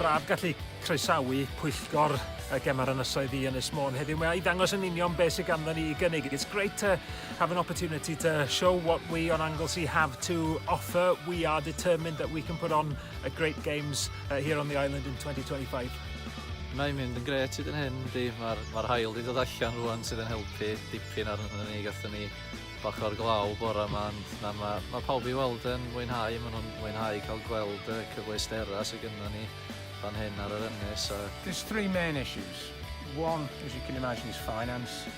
braf gallu croesawu pwyllgor y Gemau'r Ynysoedd i Ynys Môn heddiw. Mae i ddangos yn union beth sydd ganddo ni i gynnig. It's great to have an opportunity to show what we on Anglesey have to offer. We are determined that we can put on a great games uh, here on the island in 2025. Mae'n mynd yn gret hyd yn hyn, di. Mae'r ma hael wedi dod allan rwan sydd yn helpu dipyn ar hynny ni. Gatho ni bach o'r glaw bora yma, ond na, mae ma pawb i weld yn mwynhau. Maen nhw'n mwynhau cael gweld y cyfleustera sydd gyda ni fan hyn ar yr ynnes. A... There's three main issues. One, as you can imagine, is finance.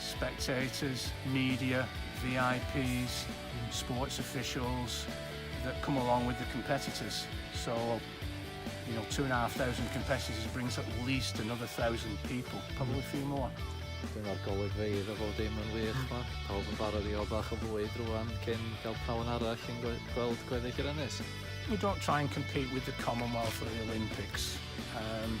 spectators, media, VIPs, sports officials that come along with the competitors. So, you know, two and a half thousand competitors brings at least another thousand people, probably a few more. Dyna'r golygfeydd o bob dim yn wych ma. Pawb yn barod i o bach o fwyd rwan cyn cael prawn arall yn gweld gweddill yr ynys. We don't try and compete with the Commonwealth or the Olympics. Um,